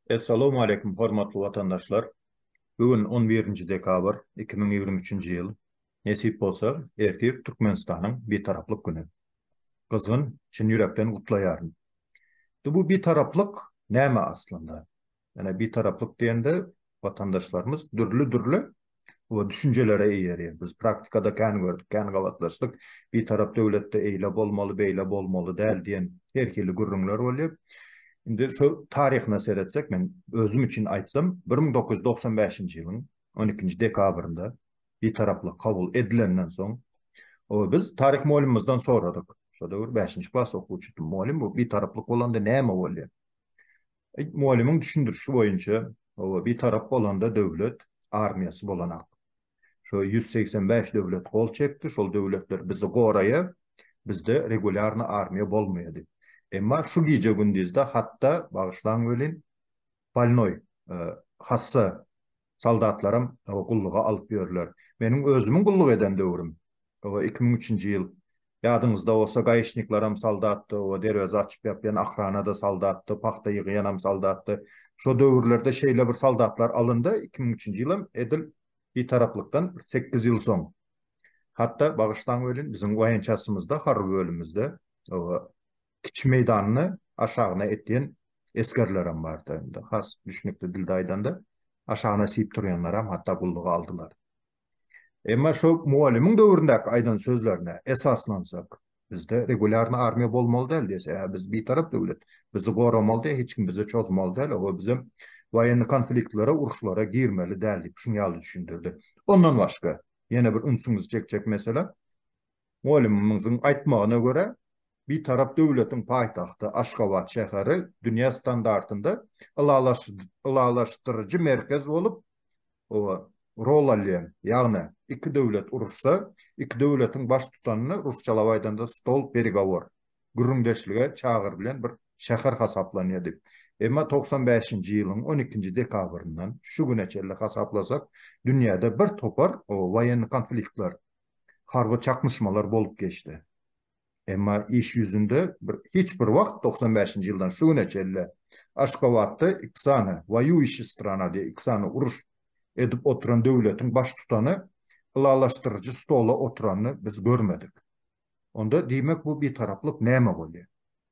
Essalawmaleýkum hormatly watandaşlar! Bu gün on birinji dekabr iki müň ýigrimi üçünji ýyl. Nesip bolsa, ertir Türkmenistanyň Bitaraplyk güni. Gyzgyn, çyn ýürekden gutlaýaryn. Indi bu Bitaraplyk näme aslynda? Ýöne bitaraplyk diýende watandaşlarymyz dürli-dürli we düşünjelere eýer ýer. Biz praktikada kän gördük, kän gabatlaşdyk. Bitarap döwletde eýle bolmaly, beýle bolmaly däl diýen her hili gürrüňler bolýar. Indi şu taryhyna seretsek, men özüm üçin aýtsam, bir müň dokuz ýüz togsan bäşinji ýylyň on ikinji dekabrynda bitaraplyk kabul edilenden soň, o biz taryh molymymyzdan soradyk. Şo döwür bäşinji klas okuwçydym. Molym, bu bitaraplyk bolanda näme bolýar? Mugallymyň düşündirişi boýunça, oba bitarap bolanda döwlet armiýasy bolanak. Şo ýüz segsen bäş döwlet gol çekdi, şol döwletler bizi goraýa, bizde regulýarny armiýa bolmaýady. Emma şu gije-gündizde hatda, bagyşlaň welin, bolnoý, hassa soldatlaram gulluga alyp ýörler. Meniň özümiň gulluk eden döwrüm, iki müň üçünji ýyl. Ýadyňyzda bolsa, gaýyşniklaram soldatdy, derweze açyp-ýapýan ahranada soldatdy, pagta ýygýanam soldatdy. Şo döwürlerde şeýle bir soldatlar alyndy, iki müň üçünji ýylam edil Bitaraplykdan sekiz ýyl soň. Hatda, bagyşlaň welin, biziň waýençasymyzda, harby bölümimizde, kiçi meýdanyny aşagyna etýän esgerlerem bardy. Indi has düşnükli dilde aýdanda, aşagyna siýip turýanlaram hatda gulluga aldylar. Emma şo mugallymyň döwründäki aýdan sözlerine esaslansak, bizde regulýarny armiýa bolmaly däl diýse, hä biz bitarap döwlet, bizi goramaly däl, hiç kim bize çozmaly däl, oho bizem waýenni konfliktlere, uruşlara girmeli däl diýip şuny ýaly düşündirdi. Ondan başga, ýene bir ünsüňizi çekjek mesele, Mugallymymyzyň aýtmagyna görä, Bitarap döwletiň paýtagty Aşgabat şäheri dünýä standartynda ylalaşdyryjy merkez bolup rol alýar. Ýagny, iki döwlet uruşsa, iki döwletiň baştutanyny, rusçalap aýdanda, stol peregovor, gürrüňdeşlige çagyrylýan bir şäher hasaplanýar diýip. Emma togsan bäşinji ýylyň on ikinji dekabryndan şu güne çenli hasaplasak, dünýäde birtopar woýenni konfliktler, harby çaknyşmalar bolup geçdi. Emma iş ýüzünde hiç bir wagt togsan bäşinji ýyldan şu güne çenli Aşgabatda iki sany Woýuýuşi strana diýip iki sany uruş edip oturan döwletiň baştutany ylalaşdyryjy stola oturanyny biz görmedik. Onda diýmek bu bitaraplyk näme bolýar?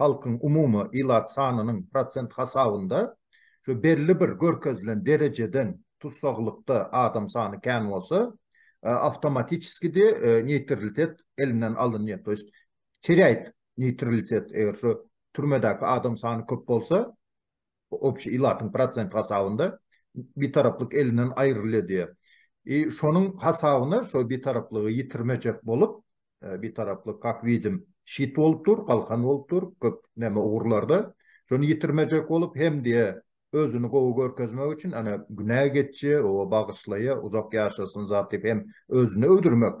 halkyň umumy ilat sanynyň prosent hasabynda şu belli bir görkezilen derejeden tussaglykda adam sany kän bolsa, awtomatiçeski de neýtrlitet elinden alynýar. To ýest terýäýt neýtrlitet eger şu türmedäki adam sany köp bolsa, Bu obşi ilatyň prosent hasabynda bitaraplyk elinden aýrylýar diýýär. I şonuň hasabyna şo bitaraplygy ýitirmejek bolup, bitaraplyk kak widim şit bolup dur, galkan bolup dur, köp näme ugurlarda. Şony ýitirmejek bolup hem diýe özüni gowy görkezmek üçin ana günä geçje, oba bagyşlaýa, uzak ýaşasyn zat diýip hem özüni öwdürmek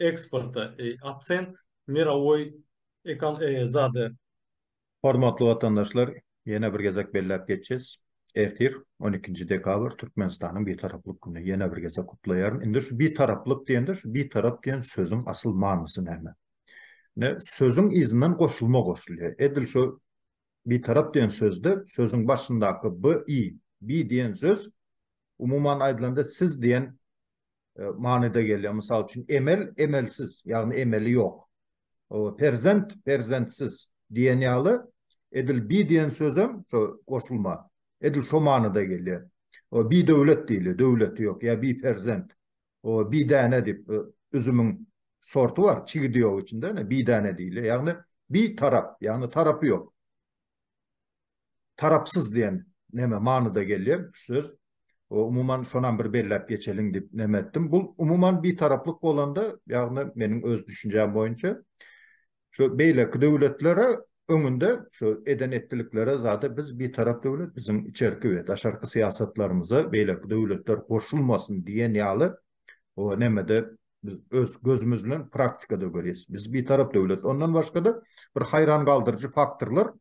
eksporta akcent mirowoý zady. Hormatly watandaşlar, ýene bir gezek belläp geçýäs, ertir, on ikinji dekabr, Türkmenistanyň Bitaraplyk güni. Ýene bir gezek gutlaýaryn. Indi şu Bitaraplyk diýende, şu Bitarap diýen sözüň asyl manysy näme? Ine, sözüň yzyndan goşulma goşulýar. Edil şu Bitarap diýen sözde sözüň başyndaky bi, bi diýen söz, umuman aýdylanda, siz diýen e, manyda gelýär. Mysal üçin, emel, emelsiz, ýagny emeli ýok. Perzent, perzentsiz diýen ýaly, edil bi diýen sözem şo goşulma, edil şo manyda gelýär. O bi döwlet diýilýär, döwleti ýok, ýa bi perzent. O bi däne diýip, e, üzümiň sorty bar, çigidi ýok içinde, bi däne diýilýär. Ýagny bi tarap, ýagny tarapy ýok. Tarapsyz diýen neme manyda gelýär şu söz. Umuman şonam bir belläp geçeliň diýip neme etdim. Bul umuman bitaraplyk bolanda, ýagny meniň öz düşünjäm boýunça şu beýleki döwletlere öňünde şu eden etdiliklere zada biz bitarap döwlet biziň içerki we daşarky syýasatlarymyza beýleki döwletler goşulmasyn diýen ýaly o nemede Biz öz gözümüz bilen praktikada görýäs. Biz bitarap döwlet. Ondan başga-da bir haýran galdyryjy faktorlar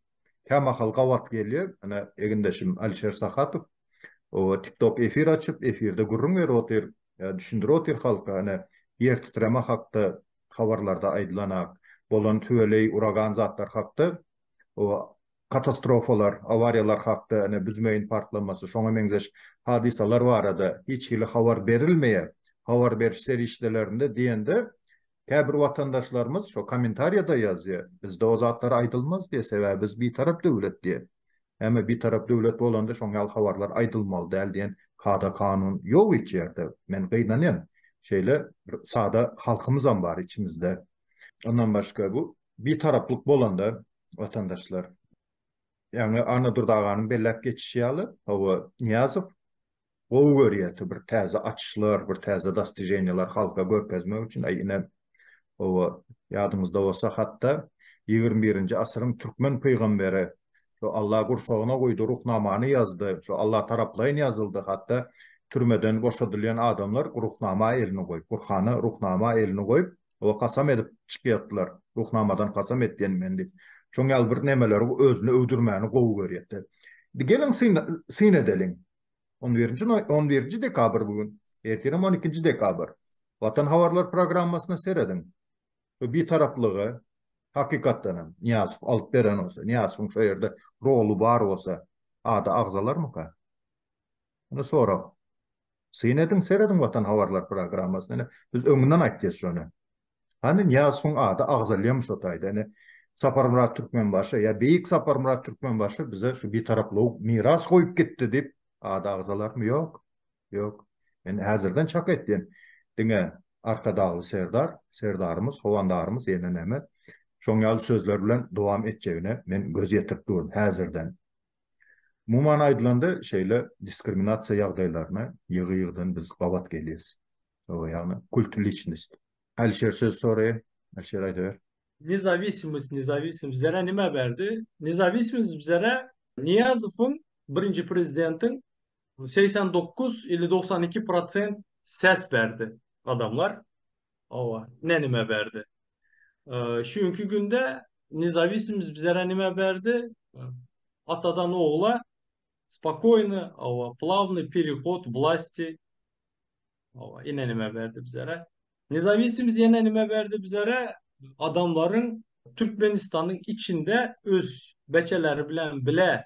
kämahal gabat gelýär. Ine, egindeşim Alişer Sahatow o TikTok efir açyp, efirde gürrüň berip otyr, e, düşündirip otyr halka. Ine, ýer titreme hakda habarlarda aýdylan ak, bolan tüweleý, uragan zatlar hakda o Katastrofalar, awariýalar hakda, ine, büzmeýin partlamasy, şoňa meňzeş hadysalar barada hiç hili habar berilmeýär. Habar beriş serişdelerinde diýende, käbir watandaşlarymyz şo kommentariýada ýazýar, bizde o zatlar aýdylmaz diýýär, sebäbi biz bitarap döwlet diýýär. Äme bitarap döwlet bolanda şoň ýaly habarlar aýdylmaly däl diýen kada-kanun ýok hiç ýerde. Men gynanýan, şeýle bir sada halkymyzam bar içimizde. Ondan başga bu bitaraplyk bolanda, watandaşlar. Ýagny Annadur aganyň belläp geçişi ýaly, hawa Nyýazow gowy görýärdi bir täze açyşlar, bir täze dostijeniýalar halka görkezmek üçin, aý ine hawa ýadyňyzda bolsa hatda ýigrimi birinji asyryň türkmen pygamberi şu Allah gursagyna guýdy, ruhnamany ýazdy, şu Allah taraplaýyn ýazyldy, hatda türmeden boşadylýan adamlar ruhnama elini goýup, Gurhana ruhnama elini goýup, Oba kasam edip çykýatdylar. Ruhnamadan kasam etýän men diýip. Şoň ýaly bir nemeleri özüne öwdürmäni gowy görýätdi. Indi geliň syn edeliň. On birinji noý, on birinji dekabr bu gün. Ertirem on ikinji dekabr. Watan habarlar programmasyna serediň. Şu bitaraplygy, hakykatdan hem, Nyýazow alyp beren bolsa, Nyýazowyň şo ýerde roly bar bolsa, ady agzalarmyka? Indi sorag. Syn ediň, serediň Watan habarlar programmasyny. Ine, biz öňünden aýtdys şony. Hany Nyýazowyň ady agzalýamy şo taýda? Ine, Saparmyrat Türkmenbaşy, ýa beýik Saparmyrat Türkmenbaşy bize şu Bitaraplygy miras goýup gitdi diýip, ady agzalarmy? Ýok. Ýok. Men häzirden çak etýän. Diňe Arkadagly Serdar, Serdarymyz, Howandarymyz ýene näme, şoň ýaly sözler bilen dowam etjegine men göz ýetirip durun häzirden. Umuman aýdylanda, şeýle diskriminasiýa ýagdaýlaryna ýygy-ýygydan biz gabat gelýäs. Hawa, ýagny kult liçnost. Alişer söz soraýar. Alişer aýdaber. Nezawisimiz nezawisimiz bizere nime berdi? Nezawisimiz bizere Niýazowyň birinji prezidentiň segsen dokuz ili dogsan iki prosent ses berdi adamlar. Owa, ne nime berdi? Şu günki günde nezawisimiz bizlere nime berdi? Atadan ogla spokoýny, owa, plavny perehod wlasti. Owa, ine nime berdi bizlere? Nezawisimiz ýene nime berdi bizlere? Adamlaryň Türkmenistanyň içinde öz beçeleri bilen bile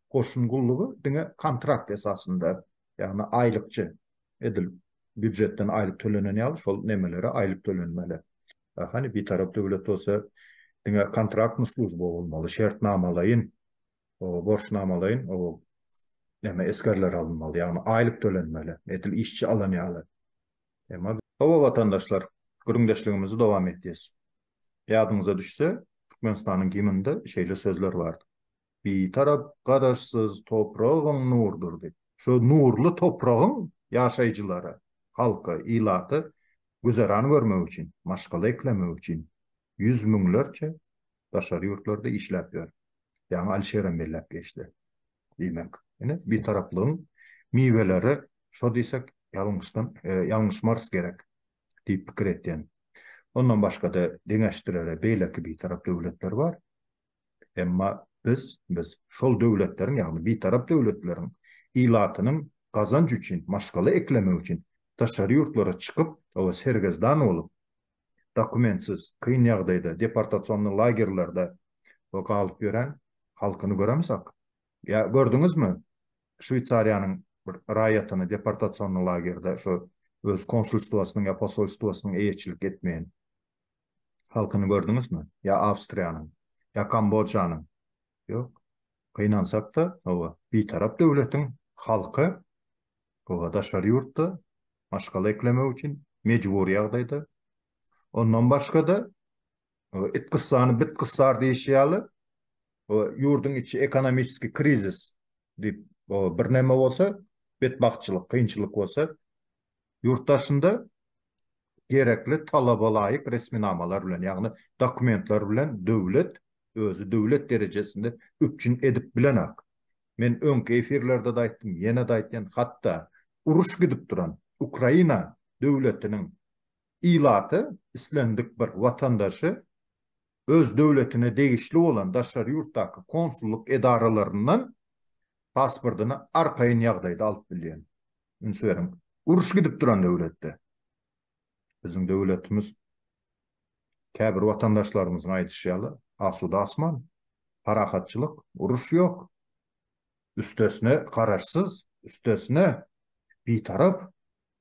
goşun gullugy diňe kontrakt esasynda, ýagny aýlykçy, edil býujetden aýlyk tölenen ýaly şol nemelere aýlyk tölenmeli. Hany Bitarap döwlet bolsa diňe kontraktny slujba bolmaly, şertnamalaýyn, borçnamalaýyn neme esgerler alynmaly, ýagny aýlyk tölenmeli, edil işçi alan ýaly. Emma. Hawa watandaşlar, gürrüňdeşligimizi dowam etýäs. Ýadyňyza düşse, Türkmenistanyň gimninde şeýle sözler bardy. Bitarap Garaşsyz topragyň nurdyr. Şu nurly topragyň ýaşaýjylary, halky, ilaty güzeran görmek üçin, maşgala eklemek üçin ýüz müňlerçe daşary ýurtlarda işläp ýör. Ýaňy Alişerem belläp geçdi. Diýmek, ine, bitaraplygyň miweleri şo diýsek, ýalňyşdan, ýalňyşmarys gerek diýip pikir etýän. Ondan başga-da deňeşdirere beýleki bitarap döwletler bar. Emma biz, biz şol döwletleriň, ýagny Bitarap döwletleriň ilatynyň gazanç üçin, maşgala eklemek üçin daşary ýurtlara çykyp, oba sergezdan bolup, dokumentsiz, kyn ýagdaýda, deportasionnyý lagerlerde we galyp ýören halkyny göremizok. Ýa gördüňizmi Şweýsariýanyň bir raýatyny deportasionnyý lagerde, şo öz konsulstwasynyň ýa posolstwasynyň eýeçilik etmeýän? halkyny gördüňizmi? Ýa Awstriýanyň? Ýa Kambojanyň? Ýok. Gynansak-da, hawa, bitarap döwletiň halky, hawa, daşary ýurtda maşgala eklemek üçin mejbury ýagdaýda. Ondan başga-da, hawa, it gyssany bit gyssar diýşi ýaly, hawa, ýurduň içi ekonomiski krizis diýip, hawa, birneme bolsa, betbagtçylyk, kynçylyk bolsa, Ýurt daşynda gerekli talabalaýyk resminamalar bilen, ýagny dokumentler bilen döwlet özi döwlet derejesinde üpjün edip bilenak. Men öňki efirlerde-de aýtdym, ýene-de aýtýan, hatda uruş gidip duran Ukraina döwletiniň ilaty islendik bir watandaşy öz döwletine degişli bolan daşary ýurtdaky konsullyk edaralaryndan pasportyny arkaýyn ýagdaýda alyp bilýän. Üns beriň, uruş gidip duran döwletde. Biziň döwletimiz, käbir watandaşlarymyzyň aýdyşy ýaly, asuda asman, parahatçylyk, uruş ýok. Üstesine, garaşsyz, üstesine, bitarap.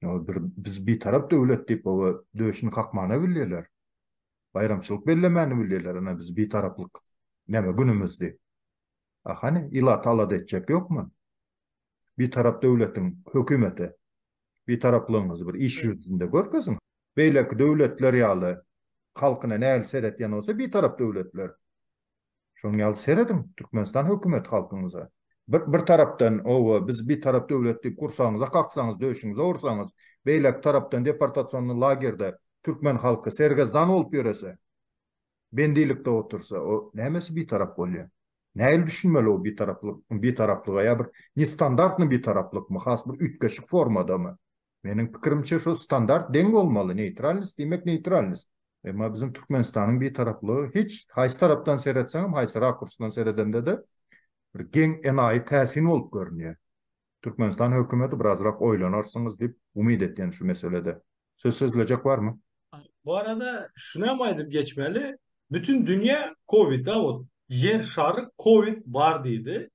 Ýa bir biz bitarap döwlet diýip, oba döşüni kakmana bilýärler. Baýramçylyk bellemäni bilýärler ana biz bitaraplyk näme günümiz diýip. A hany ilaty alada etjek ýokmy? Bitarap döwletiň hökümete bitaraplygyňyzy bir iş ýüzünde görkeziň. Beýleki döwletler ýaly halkyna nägile seretýän bolsa bitarap döwletler Şonuň ýaly serediň, Türkmenistan hökümeti halkyňyza bir bir tarapdan oba biz bitarap döwlet diýip gursagyňyza kaksaňyz, döşüňize ursaňyz, beýleki tarapdan deportasionny lagerde türkmen halky sergezdan bolup ýörese, bendilikde otursa, o nämesi bitarap bolýa? Nähili düşünmeli o bitaraplyk, bitaraplyga ýa bir nestandartny bitaraplykmy, has bir üýtgeşik formadamy? Meniň pikirimçe şo standart deň bolmaly neýtralnost diýmek neýtralnost. Emma biziň Türkmenistanyň bitaraplygy hiç haýsy tarapdan seretseňem haýsy rakursdan seredendede bir geň enaýy täsin bolup görünýär. Türkmenistan hökümeti birazrak oýlanarsyňyz diýip umyt etýän şu meselede. Söz sözlejek barmy? Bu arada şunam aýdyp geçmeli bütin dünýä kowida ot ýer şary kowid bar diýdi.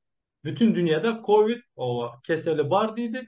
Bütin dünýäde kowid oba keseli bar diýdi.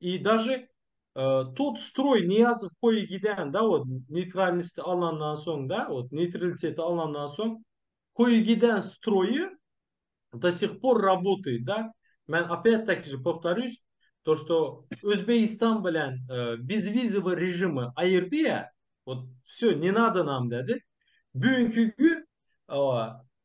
I daže tut stroý Niýazow goýy gidende ot neýtralnisti alandan soň da ot neýtraliteti alandan soň goýy giden stroýy do sih por rabotaýt da men opet taki je powtarýus to što Özbegistan bilen bezwizowy režimi aýyrdy ýa ot vsё ne nado nam dedi bugünki gün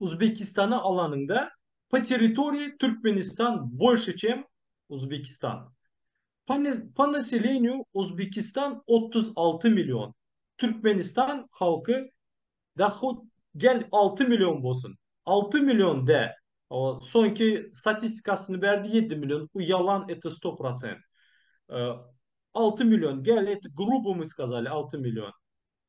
Uzbekistana alanyňda po territoriýi Türkmenistan bolşy çem Uzbekistan. Po naselenýu Uzbekistan otuz alty million Türkmenistan halky da hut gel alty million bolsun alty million dä o soňki statistikasyny berdi ýedi million u ýalan eto sto prosent alty million gel et grubu my skazali alty million.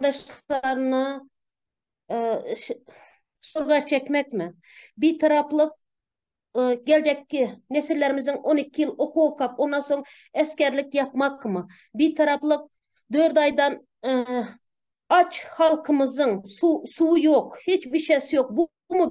gardaşlaryna şurga çekmekmi? Bitaraplyk geljekki nesillerimiziň on iki ýyl okuw okap, ondan soň esgerlik ýapmakmy? Bitaraplyk dört aýdan aç halkymyzyň suwy ýok, hiç bişesi ýok, bumy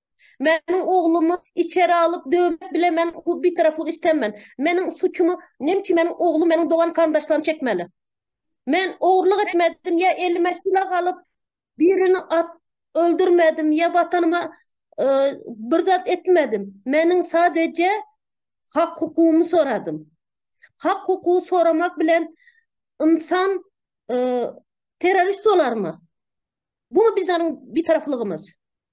Meniň oglumy içeri alyp döwmek bile men bu bitaraplyk istemen. Meniň suçumy nem üçin meniň oglum meniň dogan garyndaşlarym çekmeli. Men ogurlyk etmedim ýa elime silah alyp birini at öldürmedim ýa watanyma bir zat etmedim. Meniň sadeje hak hukugymy soradym. Hak hukugy soramak bilen ynsan terorist bolarmy? Bu bizaniň bitaraplygymyz.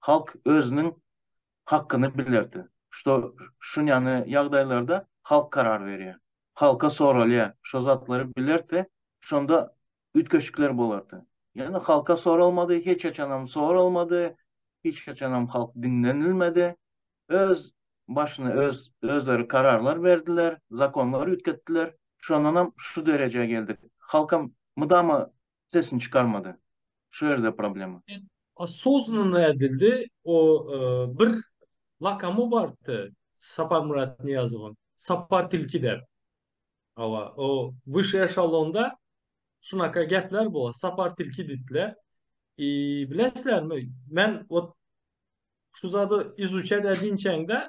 halk özüniň hakkyny bilerdi. Şto, şunýany ýagdaýlarda halk karar berýär. Halka soralýar, şo zatlary bilerdi, şonda üýtgeşikler bolardy. Ýöne halka soralmady, hiç haçanam soralmady, hiç haçanam halk diňlenilmedi. Öz başyny öz, özleri kararlar berdiler, zakonlar üýtgetdiler. Şondanam şu derejä geldik. Halkam mydama Sesini çykarmady. Şu ýerde problema. Osoznanno edildi o bir lakamy bardy Saparmyrat Niýazowyň Sapar tilki dep hawa o wyşşy eşalonda şunaka gepler bo Sapar tilki diýdiler i bilesilermi men ot şu zady izuçat edinçäňde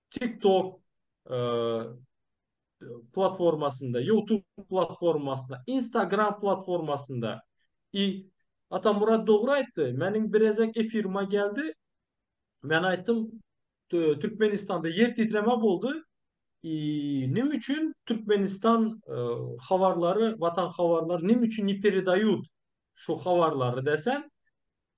TikTok platformasynda, YouTube platformasynda, Instagram platformasynda. I Atamyrat dogry aýtdy. Meniň birezek efirime geldi. Men aýtdym, Türkmenistanda ýer titreme boldy. I Nime üçin Türkmenistan habarlary, Watan habarlary nime üçin ne peredayut şu habarlary desem,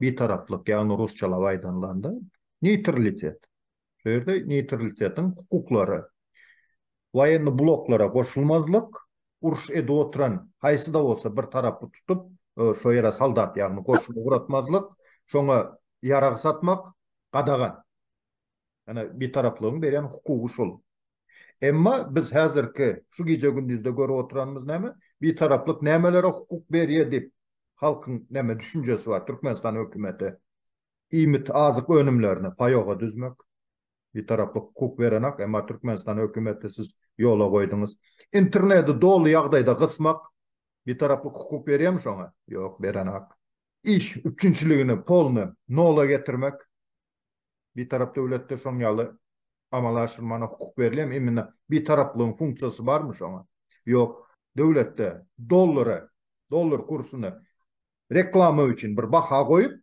Bitaraplyk, ýagny rusçalap aýdanlanda, neýtralitet. Şu ýerde neýtralitetiň hukuklary, woýennoý bloklara goşulmazlyk, uruş edip oturan haýsy-da bolsa bir tarapy tutup, şo ýere soldat, ýagny goşun ugratmazlyk, şoňa ýarag satmak gadagan. Ýöne Bitaraplygyň berýän hukugy şol. Emma biz häzirki şu gije-gündizde görüp oturanymyz näme? Bitaraplyk nämelere hukuk berýär diýip, halkyň näme düşünjesi bar? Türkmenistan hökümeti iýmit, azyk önümlerine paýoga düzmek. Bitaraplyk hukuk berenak, emma Türkmenistan hökümeti siz ýola goýduňyz. Interneti doly ýagdaýda gysmak. Bitaraplyk hukuk berýärmi şoňa? Ýok, berenak. Iş üpjünçiligini polny nola getirmek. Bitarap döwletde şoň ýaly amala aşyrmana hukuk berilýärmi? Imine bitaraplygyň funksiýasy barmy şoňa? Ýok. Döwletde dollary, dollar kursuny reklama üçin bir baha goýup,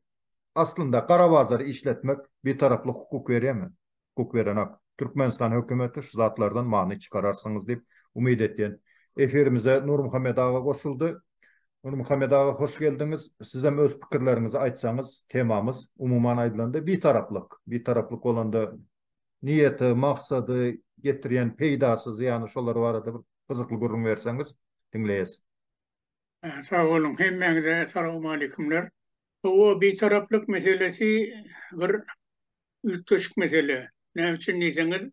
aslynda gara bazary işletmek bitaraplyk hukuk berýärmi? Hukuk berenok. Türkmenistan hökümeti şu zatlardan many çykararsyňyz diýip umyt etýän. Efirimize Nurmuhammet aga goşuldy. Nurmuhammet aga hoş geldiňiz. Sizem öz pikirleriňizi aýtsaňyz, temamyz umuman aýdylanda bitaraplyk. Bitaraplyk bolanda niýeti, maksady, getirýän peýdasy, zyýany şolar barada bir gyzykly gürrüň berseňiz diňleýäs. Sag boluň, hemmäňize salawmaleýkumlar. Hawa, bitaraplyk meselesi bir üýtgeşik mesele. Näme üçin diýseňiz,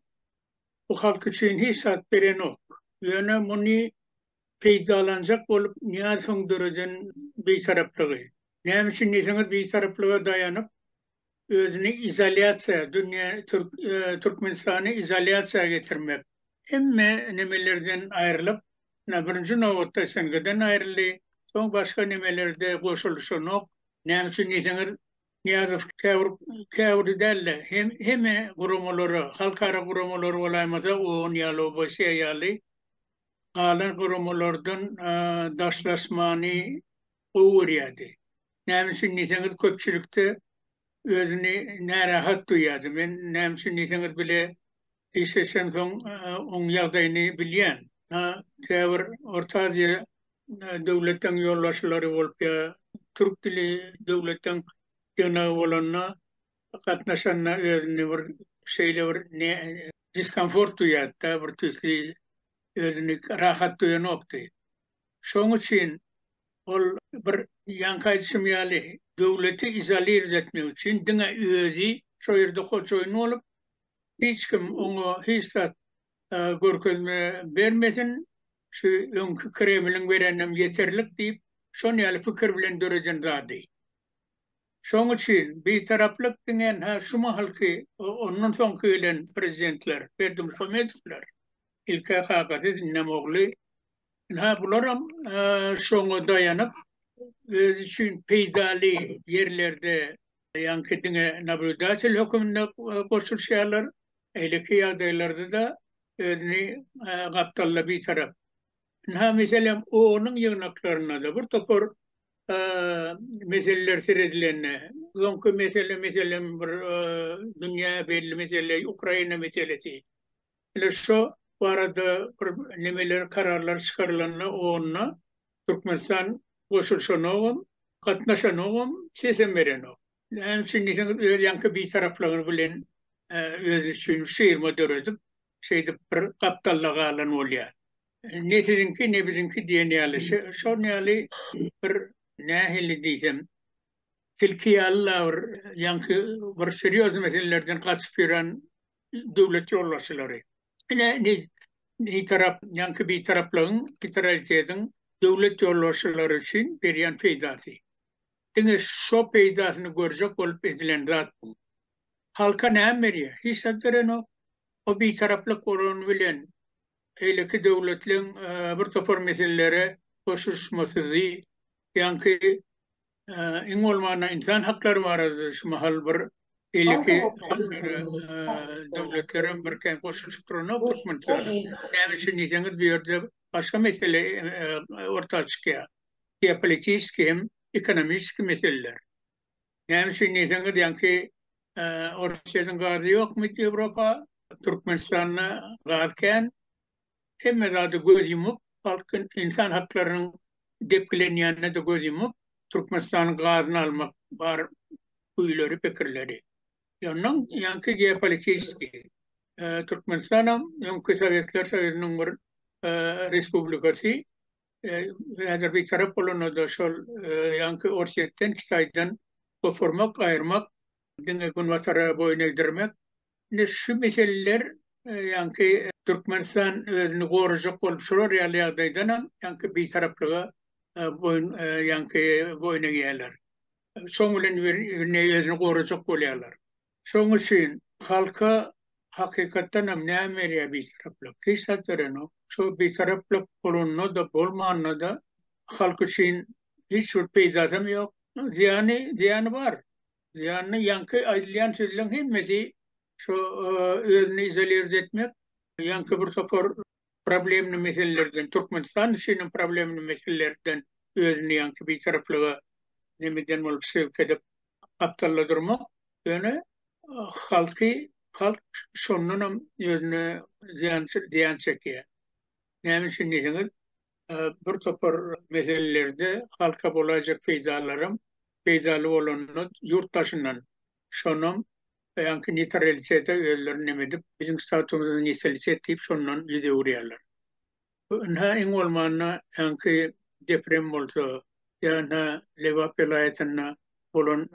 bu halk üçin hiç zat berenok. Ýöne muny peýdalanjak bolup näz soň döreden bitaraplygy. Näme üçin diýseňiz bitaraplyga daýanyp özüni izolýasiýa dünýä Türkmenistany izolýasiýa getirmek hemme nemelerden aýrylyp birinji nobatda SNG-den aýryldy soň başga nemelerde goşulyşanok. Näme üçin diýseňiz Nyýazow käbir käbiri dälde hemme guramalara halkara guramalary bolaýmasa ogun ýaly obasiýa ýaly galan guramalardan daşlaşmany gowy görýärdi. Näme üçin diýseňiz, köpçülikde özüni närahat duýýardy. Men näme üçin diýseňiz bile işleşensoň oň ýagdaýyny bilýän. Käbir Orta Aziýa döwletden ýolbaşçylary bolup ýa türk dili döwletden ýygnagy bolanda gatnaşanda özünde bir şeýle bir diskomfort duýýardy-da, bir tüýsli özüni rahat duýanokdy. Şoň üçin ol bir ýaňky aýdyşym ýaly, döwleti izolir etmek üçin diňe özi şo ýerde hojoýyn bolup, hiç kim oňa hiç zat görkezme bermesin, şu öňki Kremliň bereninem ýeterlik diýip, şon ýaly pikir bilen döreden zady. Şoň üçin Bitaraplyk diňe-hä şu mahalky, ondan soňky gelen prezidentler, Berdimuhamedowlar, ilk-ä Kakasyz, indem ogly, ynha bularam şoňa daýanyp, özi üçin peýdaly ýerlerde ýaňky diňe nablýudatel höküminde goşulyşýarlar, eýleki ýagdaýlarda-da özüni gapdalla Bitarap. Ynha, meselem, O-nyň ýygnaklarynda-da bir topar meseleler seredilende, öňki mesele, meselem, bir dünýä belli mesele, Ukraina meselesi. Ine, şo barada bir nemeler, kararlar çykarylanda onda Türkmenistan goşulyşanogam, gatnaşanogam, sesem berenok. Näme üçin diýseňiz, öz ýaňky bitaraplygy bilen özi üçin şirma döredip, şeýdip bir gapdalda galan bolýar. Ne siziňki, ne biziňki diýen ýaly, şol ýaly bir nähili diýsem, tilki ýaly la bir ýaňky bir serýozny meselelerden gaçyp ýören döwlet ýolbaşçylary. Ine, nitarap, ýaňky bitaraplygyň, bitaralitetiň döwlet ýolbaşçylary üçin berýän peýdasy. Diňe şo peýdasyny görjek bolup edilen zat bu. Halka näme berýär? Hiç zat berenok. O bitaraplyk bolany bilen beýleki döwletleriň bir topar meselelere goşuşmasyzy, ýaňky iň bolmanda ynsan haklary barada şu mahal bir beýleki döwletlerem birkän goşulyşyp duranok Türkmenistana. Näme üçin diýseňiz, bu ýerde başga mesele orta çykýar. Geopolitiski hem ekonomiski meseleler. Näme üçin diýseňiz, ýaňky Orsýetiň gazy ýokmy Ýewropa, Türkmenistanda gaz kän. Hemme zada göz ýumup, halk ynsan haklarynyň depgilenýänine-de göz ýumup, Türkmenistanyň gazyny almak bar güýleri, pikirleri. Ýondan ýaňky geopolitiski Türkmenistanam öňki Sowetler Soýuzynyň bir respublikasy. häzir bitarap bolanda-da şol ýaňky Orsýetden, Hytaýdan goparmak, aýyrmak, diňe Günbatara boýun egdirmek. Indi şu meseleler ýaňky Türkmenistan özüni gorajak bolup şular ýaly ýagdaýdanam ýaňky bitaraplyga boýun ýaňky boýun egýärler. Şoň bilen özüni gorajak bolýarlar. Şoň üçin halka hakykatdan hem näme berýär Bitaraplyk? Hiç zat berenok. Şo Bitaraplyk bolanda-da, bolmanda-da halk üçin hiç bir peýdasy hem ýok. Zyýany, zyýany bar. Zyýanyny ýaňky aýdylýan sözleň hemmesi şo özüni izolirz etmek, ýaňky bir topar problemli meselelerden, Türkmenistan üçin hem problemli meselelerden özüni ýaňky bitaraplyga nemeden bolup sebit edip gapdalda durmak, ýöne halky, halk şondan hem özüne zyýan, zyýan çekýär. Näme üçin diýseňiz, bir topar meselelerde halka bolaýjak peýdalaram, peýdaly bolanynda ýurt daşyndan, şonam baýanky nitralitete özlerini nemedip biziň statumyzda nitralitet diýip şondan ýüz öwürýärler. Bu ynha iň bolmanda ýanky deprem bolsa ýa ynha Lebap welaýatynda bolan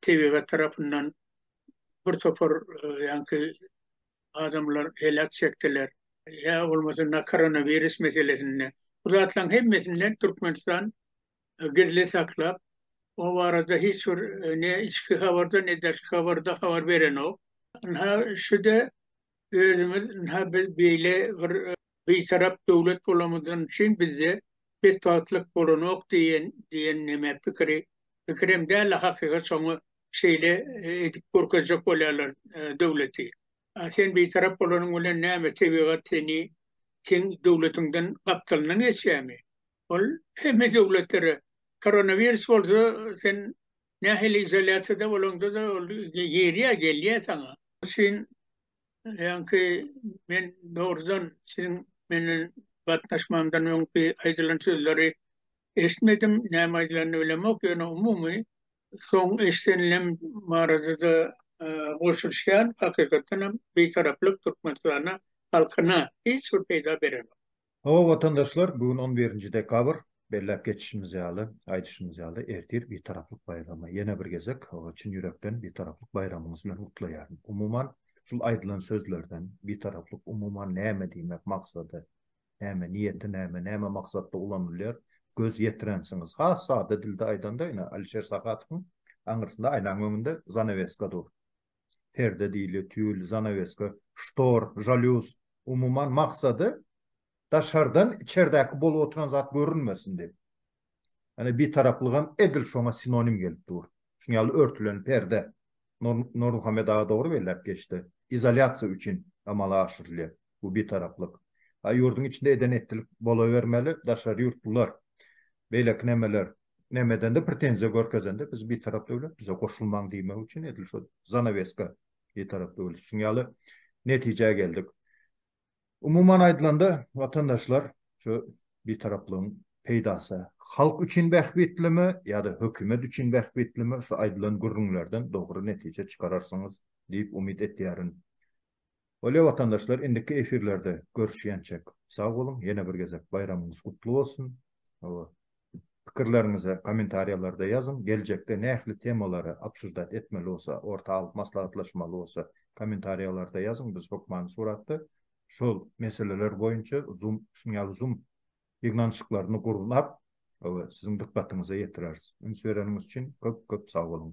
tebigat tarapyndan bir topar ýanky adamlar heläk çekdiler ýa bolmasa ynha koronawirus meselesinde bu zatlaryň hemmesinden Türkmenistan gizli saklap, o barada hiç bir ne içki habarda, ne daşky habarda habar berenok. Ynha, şu-da özümiz, ynha biz beýle bir bitarap döwlet bolanymyzdan üçin bizde betbagtlyk bolanok diýen, diýen näme pikiri, pikir hem däl-de, hakykat şoňa şeýle edip görkezjek bolýarlar döwleti. A sen bitarap bolanyň bilen näme, tebigat seni seň döwletiňden gapdalyndan geçýärmi? Ol hemme döwletlere, koronawirus bolsa sen nähili izolýasiýada bolaňda-da ol girýär, gelýär saňa. Üçin ýaňky men dogrudan siziň menden batnaşmamdan öňki aýdylan sözleri eşitmedim, näme aýdylanyny bilemok, ýöne umumy soň eşidenlem barada-da goşulyşýan, hakykatdanam Bitaraplyk Türkmenistana, halkyna hiç bir peýda berenok. Hawa, watandaşlar, bu gün on birinji dekabr. Belläp geçişimiz ýaly, aýdyşymyz ýaly, ertir Bitaraplyk baýramy. Ýene bir gezek çyn ýürekden Bitaraplyk baýramyňyz bilen gutlaýaryn. Umuman, şul aýdylan sözlerden, Bitaraplyk umuman näme diýmek, maksady näme, niýeti näme, näme maksatda ulanylýar, göz ýetirensiňiz. Has sada dilde aýdanda, ine, Alişer Sahadowyň aňyrsynda, aýnaň öňünde zanaweska dur. perde diýilýär, tül, zanaweska, ştor, žalýuz, umuman, maksady daşardan içerdäki bolup oturan zat görünmesin diýip. Ýani bitaraplygam edil şoňa sinonim gelip dur. Şunuň ýaly örtülen perde Nurmuhammet aga dogry belläp geçdi. Izolýasiýa üçin amala aşyrylýar bu bitaraplyk. A ýurduň içinde eden etdilik bolawermeli, daşary ýurtlular beýleki nämeler näme edende pretenziýa görkezende biz bir tarap döwlet bize goşulmaň diýmek üçin edil şu zanaweska bir tarap döwlet şuň ýaly netijä geldik. Umuman aýdylanda watandaşlar şu bir taraplygyň peýdasy halk üçin bähbitlimi ýa-da hökümet üçin bähbitlimi şu aýdylan gürrüňlerden dogry netije çykararsyňyz diýip umyt etýärin. Bolýa watandaşlar indiki efirlerde görüşýänçek sag boluň ýene bir gezek baýramyňyz gutly bolsun hawa pikirleriňizi komentariýalarda ýazyň geljekde nähli temalary obsuždat etmeli bolsa orta alyp maslahatlaşmaly bolsa komentariýalarda ýazyň biz hökmany suratda şol meseleler boýunça zum şunuň ýaly zum ýygnanyşyklaryny gurnap hawa siziň dykgatyňyza ýetireris üns bereniňiz üçin köp köp sag boluň.